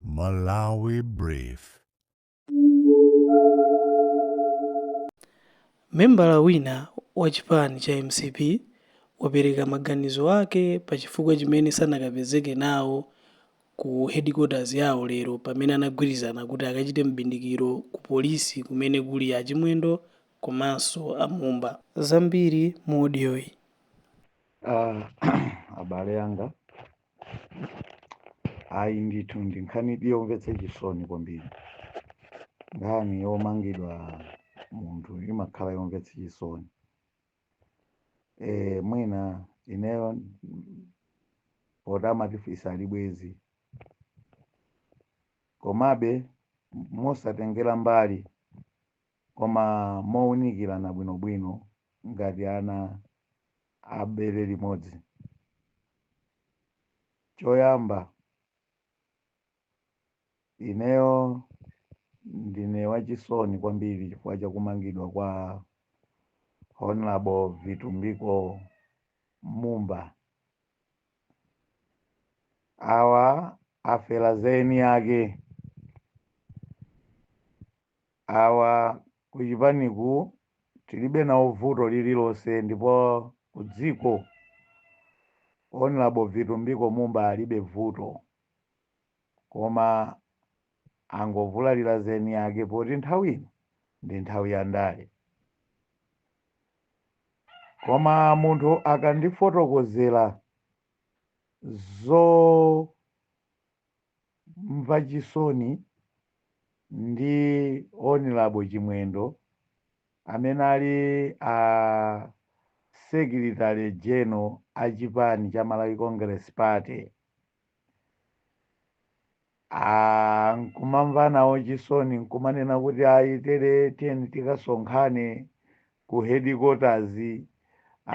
Malawi Brief. Membala wina wa chipani cha mcp wapereka maganizo ake pa chifukwa chimene sanakapezeke nawo ku headquarters yawo lero pamene anagwirizana kuti akachite m'bindikiro ku polisi kumene kuli a Chimwendo komanso a Mumba. Zambiri mu odiyoyi. Ah, abale anga ayi ndithu ndi nkhani yomvetsa chisoni kwambiri nkhani yomangidwa munthu imakhala yomvetsa chisoni e, mwina ineyo mm, poti amatifisa ali bwezi komabe mosatengera mbali Koma mounikirana bwinobwino ngati ana a bere limodzi. Choyamba, ineyo ndine wachisoni kwambiri chifukwa cha kumangidwa kwa Hon. Vitumbiko Mumba. Awa afera za eni ake. Awa kuchipaniku tilibe nawo vuto lililonse ndipo kudziko Hon Vitumbiko Mumba alibe vuto koma angovulalira za eniake poti nthawi ino ndi nthawi ya ndale. Koma munthu akandifotokozera zo. mva chisoni ndi Hon Chimwendo amene ali a secretary general a chipani cha Malawi Congress Party a nkumamva nawo chisoni nkumanena kuti ayi tere tiyeni tikasonkhane ku headquarters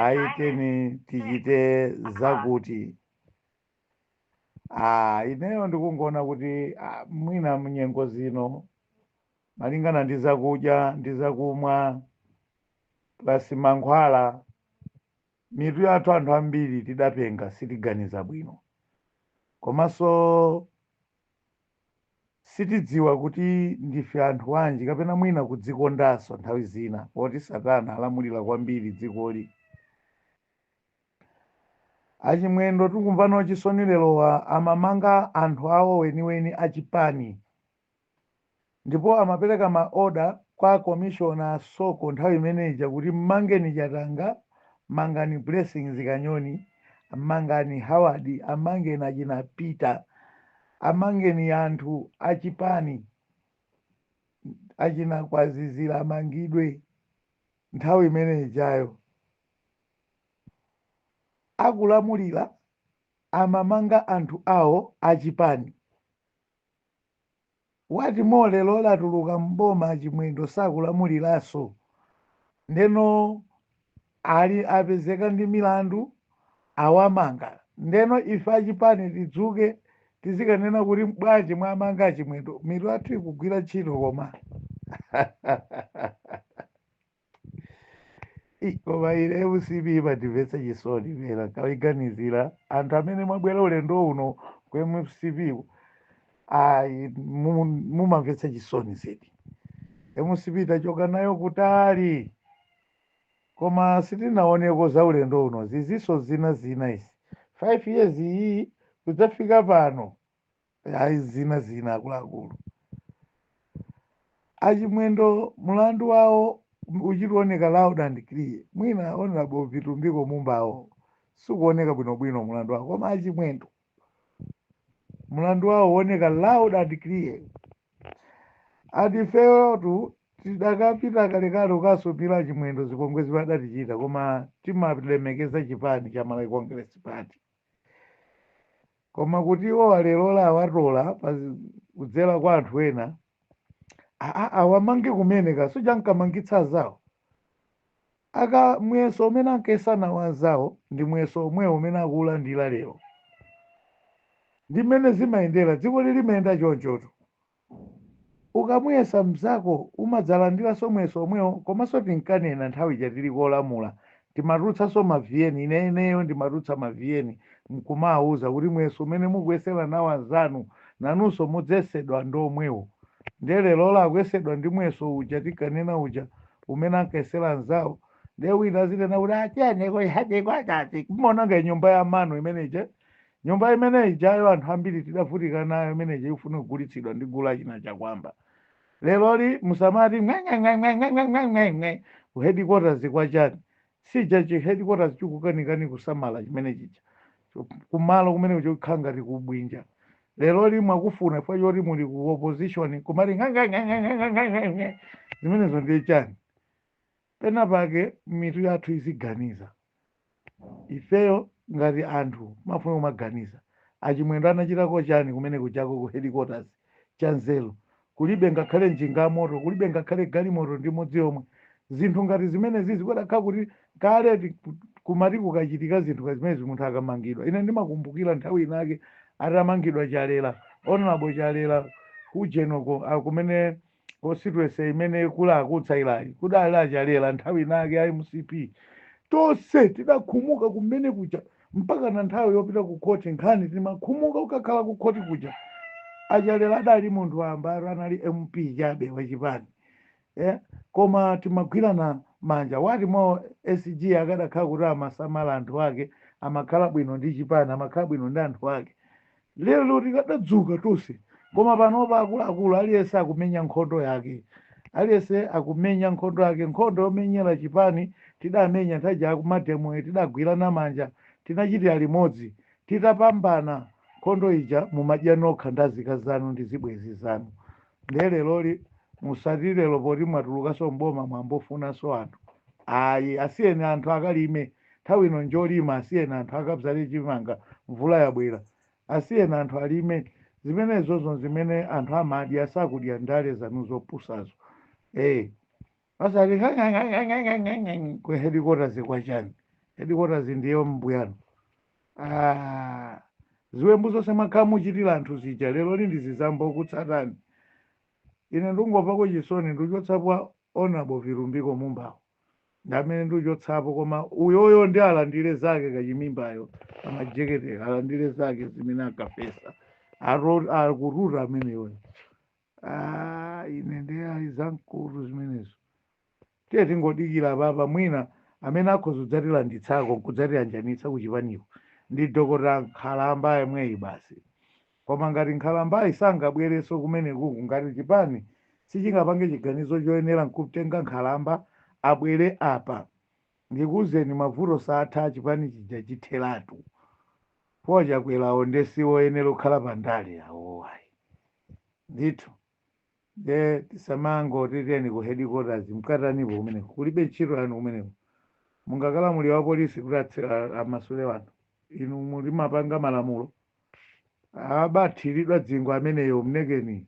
ayi tiyeni tichite zakuti Ah, ineyo ndikungoona kuti ah, mwina mnyengo zino malingana ndi zakudya ndi zakumwa plus mankhwala mitu yathu anthu ambiri tidapenga sitiganiza bwino komanso sitidziwa kuti ndife anthu wanji kapena mwina kudzikondanso nthawi zina poti satana alamulira kwambiri dzikoli Achimwendo tikumva nawo chisoni lerowa amamanga anthu awo weniweni a chipani ndipo amapereka ma order kwa commissioner Soko nthawi imene ija kuti mmangeni Chatanga, mangani Blessings Kanyoni, mangani Howard, amangeni achina Peter, amangeni anthu a chipani achina Kwazizira amangidwe nthawi imene ijayo. akulamulila amamanga anthu awo achipani what more lelo latuluka mboma achimwendo sakulamulilaso ndeno ali apezeka ndi milandu awamanga ndeno ife achipani tidzuke tizikanena kuti bwanji mwamanga achimwendo mitu athu ikugwira ntchito koma Ih, koma ine mcp imandimvetsa chisoni pena kawiganizira anthu amene mwabwera ulendo uno ku mcp ku, ayi mu- mumamvetsa chisoni zedi mcp tachoka nayo kutali koma sitinaoneko za ulendo uno ziziso zina zina izi 5 years iyi kudzafika pano ayi zina zina akuluakulu achimwendo mulandu wawo uchikuoneka loud and clear mwina honorable vitumbiko mumbawo sikuoneka bwinobwino mulandu wawo koma achimwendo mulandu wawo uoneka loud and clear atifeyotu tidakapita kalekale ukasumira achimwendo zipongwe zimene adatichita koma timalemekeza chipani cha malawi congress party koma kuti iwo alerola awatola pa zi- kudzera kwa anthu ena a- a- awamange kumene kasuja ankamangitsa azawo aka muyeso umene ankayesa nawo azawo ndi muyeso omwewo umene akuulandira lero ndi mmene zimayendera dziko lili limayenda chonchotu Ukamuyesa mzako umadzalandilanso muyeso omwewo komaso tinkanena nthawi ija tili kolamula timatulutsanso ma vn ineneyo ndimatulutsa ma vn mkumawuza kuti muyeso umene mukuyesela nawo anzanu nanunso mudzesedwa ndi omwewo ndiye lelolo akuyesedwa ndi muyeso uja tinkanena uja umene ankayesela anzawo ndiye wina azinena kuti atiyeni ku ntchitiko tati muwononge nyumba ya manu imene ija Nyumba imene ijayo anthu ambiri tidavutika nayo imene ija ikufuna kugulitsidwa ndi gulu la achina Chakwamba. Leroli musamati ng'eng'eng'eng'eng'eng'eng'eng'eng'e ku headquarters kwa chani? Siija chi headquarters chikukanikani kusamala chimene chija. Kumalo kumene kuja kukhala ngati ku Bwinja. Leroli mwakufuna chifukwa choti muli ku opposition nkumati ng'eng'eng'eng'eng'eng'eng'eng'e zimenezo ndiye chani? Pena pake mitu yathu iziganiza. Ifeyo ngati anthu timafuna kumaganiza. A Chimwendo anachitako chani kumene kujako ku headquarters cha nzeru? Kulibe ngakhale njinga moto, kulibe ngakhale galimoto ndi imodzi yomwe. Zinthu ngati zimenezi kudakakhala kuti kale kumati kukachitika zinthu ngati zimenezi munthu akamangidwa. Ine ndimakumbukira nthawi inayake atamangidwa Chalela, Hon. Chalela ku Ujeni uko, a kumene. constituency imene kuli a Kutsairayi kudali achalela nthawi inayake a mcp tonse tidakhumuka kumene kuja mpaka na nthawi yopita ku khoti nkhani timakhumuka ukakhala ku khoti kuja achalela adali munthu wamba anali mp chabe wachipani eh? koma timagwirana manja wa Chimwendo sg akadakhala kuti amasamala anthu ake amakhala bwino ndi chipani amakhala bwino ndi anthu ake Lero tikadadzuka tonse koma panopa akuluakulu aliyense akumenya nkhondo yake. Aliyense akumenya nkhondo yake. Nkhondo yomenyera chipani tidamenya nthawi ija ya mademo ija tidagwirana manja, tinachitira limodzi. Titapambana nkhondo ija mumadya nokha ndi azikazi anu ndi zibwenzi zanu. Ndiye leroli musati lero poti mwatulukanso m'boma mwayambofunanso anthu. Ayi, asiyeni anthu akalime. Nthawi ino njolima asiyeni anthu akabzale chimanga mvula yabwera. Asiyeni anthu alime zimenezozo nzimene anthu amadya sakudya ndale zanu zopusazo ee osati ng'ang'ang'ang'ang'ang'ang'ang'ang'ang'a ku headquarters kwa chani headquarters ndiye mbuyanu aah ziwembu zonse mwakhala muchitira anthu zija leroli ndiye zizambokutsatani ine ndikungomvako chisoni ndikuchotsapo honorable vitumbiko mumbawo. ndi amene ndiuchotsapo koma uyoyo ndi alandire zake kachimimbayo amajeketera alandire zake zimene ankafesa akututa ameneyo Ah, ine ndi ayi zamkutu zimenezo tiye tingodikira papa mwina amene akhoza kudzatilanditsako nkudzatiyanjanitsa kuchipaniko ndi dokota nkhalambayo yemweyi basi Koma ngati nkhalambayi sangabwerenso kumenekuku ngati chipani sichingapange chiganizo choyenera nkumtenga nkhalamba abwere apa ndikuuzeni mavuto saatha chipani chija chitheratu chifukwa chakwerayo nde sioyenera kukhala pa ndale awowo ayi ndithu. nde tisamangoti tiyeni ku headquarters mkatanipo kumeneko kulibe ntchito yanu kumeneko mungakalamulire wapolisi kuti atse- a- amasule wanthu inu mumapanga malamulo abathiridwa zingwe ameneyo mlekeni